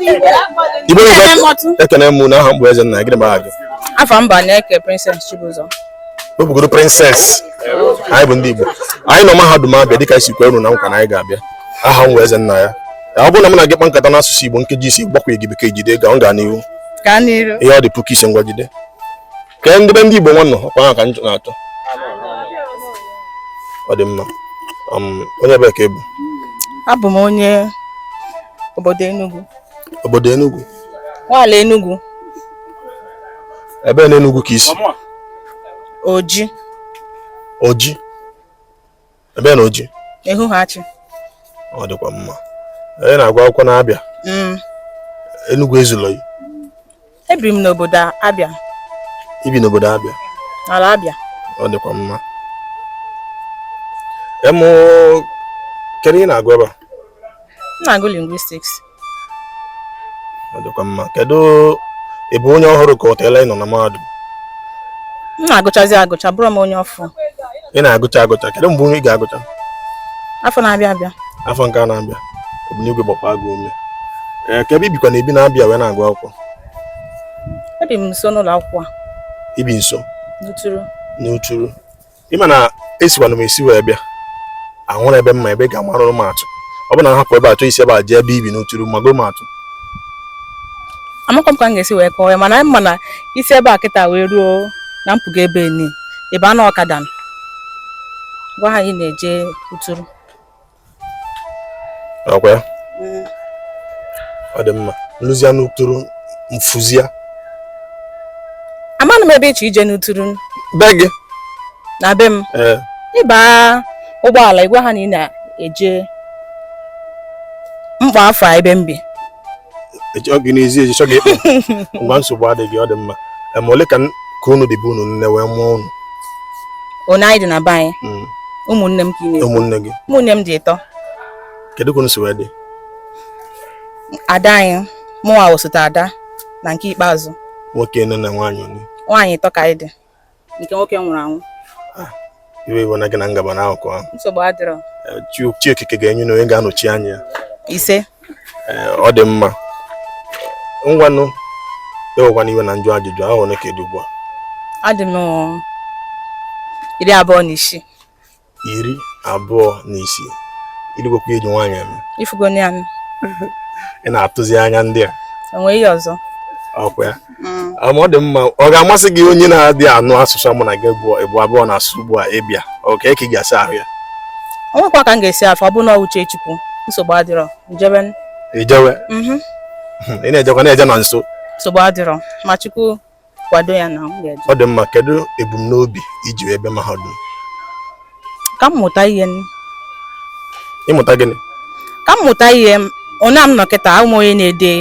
Igbo ekene m unu aha m bụ Ezenna gịnị mara gị afa m bụ Aneke Princess Chibuzọ wepụgodu princess anyị bụ ndị Igbo anyị nọ mahadum Abịa dịka e si kwe unu na nkwa na anyị ga-abịa aha m bụ Ezenna ya ọ bụrụ na m na gị kpa nkata n'asụsụ Igbo nkeji ise gbakwaghị Bekee jide ga ọ gaa n'ihu ihe ọ dị puku ise ngwa jide ka ndị be ndị Igbo nwa nọ ọkwa ha ka anyị na-achọ ọ dị mma um, onye ebee ka ị bụ abụ m onye obodo Enugu obodo Enugu n'ala Enugu ebee na Enugu ka i si Oji Oji Ebee na Oji? Ehuhe Achi. Ọ dịkwa mma. Onye na-agụ akwụkwọ n'Abịa? Mm. Enugwu ezulọ gị? Ebiri m n'obodo Abịa. I bi n'obodo Abịa? N'ala Abịa. Ọ dịkwa mma. Em kedu ihe ị na-agụ ebe a? M na-agụ lingwistiks. dịkwa mma kedu ị bụ onye ọhụrụ ka ọ teela ị nọ na mahadum m na-agụchazi agụcha abụrọ m onye ọfụụ ị na-agụcha agụcha kedu mgbe ị ga-agụcha afọ na-abịa abịa afọ nke a na-abịa Obinigwe gbaakwa gị ume ee kedu ebe i bikwanụ ebi n'Abịa wee na-agụ akwụkwọ ebi m nso n'ụlọ akwụkwọ a i bi nso n'Uturu n'Uturu ị ma na esikwanụ m esi wee bịa ọ wụrọ ebe m ma ebe ị ga-amarụ m atụ ọ bụ na m hapụ ebe a chọọ isi ebe a jee ebe i bi n'Uturu mago m atụ amakwa m ka m ga-esi wee kọọ ya mana m ma na i si ebe a kịta wee ruo na mpụga ebe ni ị baa n'ọkada gwa ha na ị na-eje Uturu ọkwa ya mm. ọ dị mma m luzia n'Uturu m fuzia amanụ m ebe ị chọ ije n'Uturu be gị na be m eh. ị baa ụgbọala ị gwa ha na ị na-eje mkpa afọ ebe m bi echọọ gị n'ezi eji chọọ gị ịkpọ ngwa nsogbu adịghị ọ dị mma ma ole ka ka unu dị be unu nne wee mụọ unu one anyị dị na be anyị hmm. ụmụnne m ka ị na-ekwu ụmụnne gị ụmụnne m dị ịtọ kedu ka unu si wee dị ada anyị mụnwa wụ osote ada na nke ikpeazụ nwoke one na nwaanyị nwaanyị ịtọ ka anyị dị nke nwoke nwụrụ anwụ ah, iwe ewena gị na m gaba na akụkụ ahụ nsogbu adịrọ eh, chi okike ga-enye unu onye ga-anọchi anya ya ise eh, ọ dị mma ngwanụ ewekwana iwe na m jụọ ajụjụ a afọ ole ka ị dị ugbu a adị m iri abụọ na isii iri abụọ na isii irugokwa eji nwaanyị anụ ifugo ya anụ ị na-atụzi anya ndị a enweghị ihe ọzọ ọkwa ya mm. ma ọ dị mma ọ ga-amasị gị onye na-adị anụ asụsụ mụ na gị bụ abụọ na-asụ ugbu a ịbịa oke ka ị ga-esi ahụ ya ọ nwekwa ka m ga-esi afụ ọ bụ na uche chukwu nsogbu adịrọ njebe ijewe mhm. ị na-ejekwa na-eje na nso nsogbu adịrọ ma chukwu kwado ya na m ga-eje ọ dị mma kedu ebumnobi iji wee bịa mahadum ka m mụta ihe nne. ịmụta gịnị ka m mụta ihe m onye a m nọ kịta abụ m onye na-ede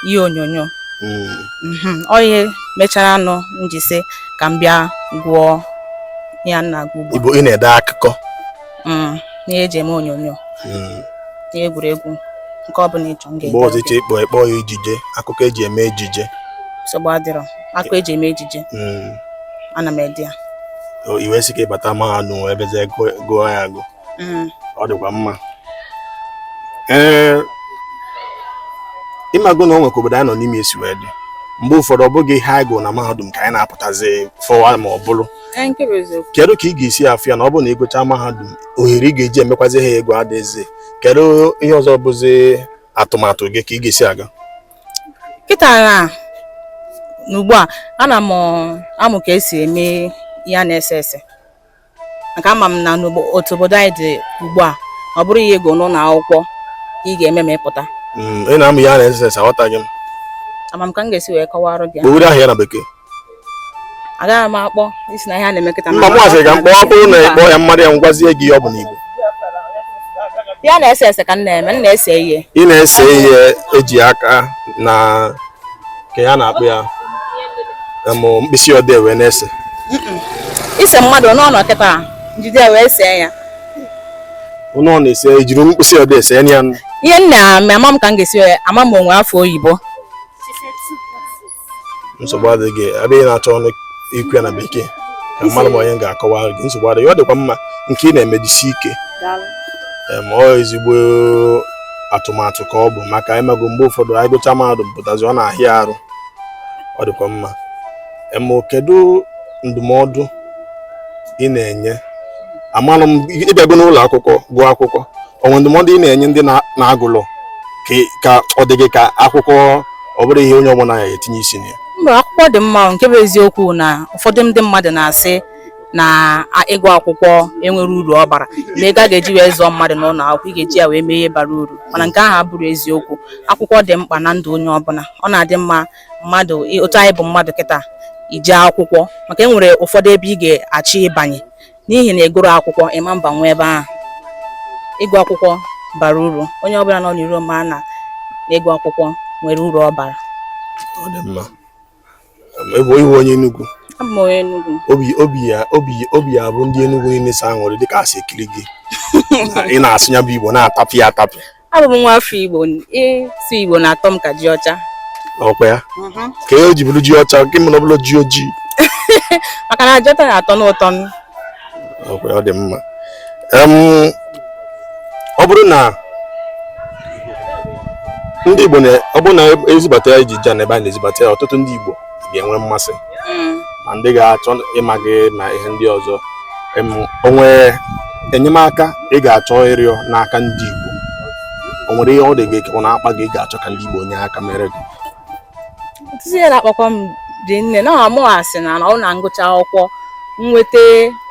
ihe onyonyo Mm, Mhm, ọ ihe mechara nụ m ji sị ka m bịa gụọ ya nna gụgbu ịbụ ị na-ede akụkọ mm, n'ihe eji eme onyonyo mm. n'ihe egwuregwu nke ọbụla ịchọ m ga-ede ọzọ ịchọ ịkpọ ịkpọ ya ejije akụkọ eji eme ejije nsogbu adịrọ akụkọ eji eme ejije mm. ana m ede ya i wee sị ka ịbata mahadum wee bezie gụọ ya agụ ọ dịkwa mma ee ịmago na o nwekwa obodo anyị nọ n'ime esi wee dị mgbe ụfọdụ ọ bụghị ihe anyị gụrụ na mahadum ka anyị na-apụtazi fụwa ma ọ bụrụ kedu ka ị ga-esi afụ ya na ọ bụrụ na ịgụcha mahadum ohere ị ga-eji emekwazi ihe a ị gụrụ adịghịzi kedu ihe ọzọ bụzi atụmatụ gị ka ị ga-esi aga kịta na ugbu a ana m amụ ka esi eme ihe a na-ese ese maka ama m na otu obodo anyị dị ugbu a ọ bụrọ ihe ị gụrụ n'ụlọ akwụkwọ ị ga-eme ma ị pụta mm, ị na-amụ ihe a na-ese ese aghọtaghị m ama m ka m ga-esi wee kọwara gị o nwere aha ya na bekee agaghị m akpọ isi na ihe a na-eme kịta mba m asị ka m kpọọ ọ bụrụ na ịkpọ ya m malụ ya m gwazie gị ọ bụ n'igbo ihe a na-ese ese ka m na-eme m na-ese ihe ị na-ese ihe eji aka na ka ya na-akpụ ya mụ mkpịsị odee wee na-ese ise mmadụ nọ nụ kịta m jide wee see ya ụnụ ọ na-ese ejiri mkpịsị odee see ya ihe nna ama m ka m ga-esi ama m o nwe afa oyibo nsogbu adịghị ebe ị na-achọrọ nụ ikwu ya na bekee ka m malụ ma onye ga-akọwa gị nsogbu adịghị ọ dịkwa mma nke ị na-eme jisie ike ma ọ ezigbo atụmatụ ka ọ bụ maka ịmago mgbe ụfọdụ anyị gụcha mahadum pụtazi ọ na-ahịa arụ ọ dịkwa mma ma kedu ndụmọdụ ị na-enye amalụ m ịbịago n'ụlọ akwụkwọ gụọ akwụkwọ o nwe ndụmọdụ ị na-enye ndị na-agụrọ ka ọ dị gị ka akwụkwọ ọ bụrọ ihe onye ọbụla ya etinye isi na ya mba akwụkwọ dị mma nke bụ eziokwu na ụfọdụ ndị mmadụ na-asị na ịgụ akwụkwọ enwerọ uru ọ bara na ego a ga-eji wee zụọ mmadụ n'ụlọ akwụkwọ ị ga-eji ya wee mee ihe bara uru mana nke ahụ abụrọ eziokwu akwụkwọ dị mkpa na ndụ onye ọbụla ọ na-adị mma mmadụ otu anyị bụ mmadụ kịta ije akwụkwọ maka e nwere ụfọdụ ebe ị ga-achọ ịbanye n'ihi na ị gụrọ akwụkwọ ị ma mbanwu ebe ahụ ịgụ akwụkwọ bara uru onye ọbụla nọ n'iro ma na ịgụ akwụkwọ nwere uru ọ bara ọ dị mma ebe ị wụ onye Enugu abụ m onye Enugu obi obi ya obi obi ya-abụ ndị Enugu niile sọ aṅụrị dịka ha si ekiri gị ị na-asụ ya bụ Igbo na-atapịa atapịa abụ m nwa afọ Igbo ịsụ Igbo na-atọ m ka ji ọcha ọ kwa ya mhm. kee e ji bụrụ ji ọcha nke m na ọ bụrọ ji ojii maka na ji ọcha na-atọ m ụtọ ọ kwa ya ọ dị mma ọ bụrụ na ndị Igbo ọ bụrụ na e zibata ya iji ja na ebe a na e zibata ya ọtụtụ ndị Igbo ga-enwe mmasị mm. ma ndị ga-achọ ịma gị na ihe ndị ọzọ o nwere enyemaka ị ga-achọ ịrịọ n'aka ndị Igbo o nwere ihe ọ dị gị ka ọ na-akpa gị ị ga-achọ ka ndị Igbo nye aka mere gị ọtụtụ ihe na-akpakwa m dị nne na mụwa sị na ọ wụ na m gụcha akwụkwọ nweta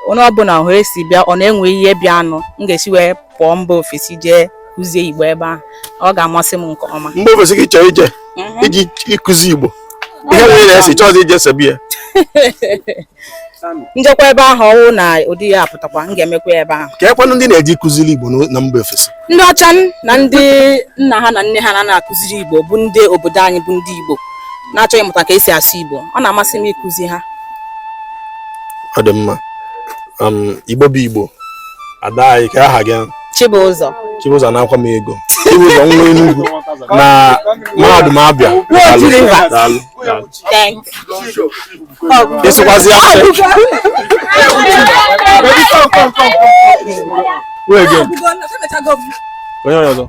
onye ọbụla ohere si bịa ọ na e nwee ihe bịanụ m ga-esi wee pụọ mba ofesi jee kụzie igbo ebe ahụ ọ ga-amasị m nke ọma mba ofesi ka ị chọrọ ije mhm. ije ịkụzi igbo ihe nwere na-esi chọọzi ije Serbia m jekwa ebe ahụ ọ wụ na ụdị ya apụtakwa m ga-emekwa ebe ahụ keekwanụ ndị ị na-eje ịkụziri igbo na mba ofesi ndị ọcha na ndị nna ha na nne ha na na-akụziri igbo bụ ndị obodo anyị bụ ndị igbo na-achọ ịmụta ka e si asụ igbo ọ na-amasị m ịkụzi ha ọ dị mma um, igbo bụ igbo ada anyị kee aha gị Chibụzọ Chibụzọ na-akwa m ego Chibụzọ nwa Enugu na mahadum Abịa ị sụkwazi onye ọzọ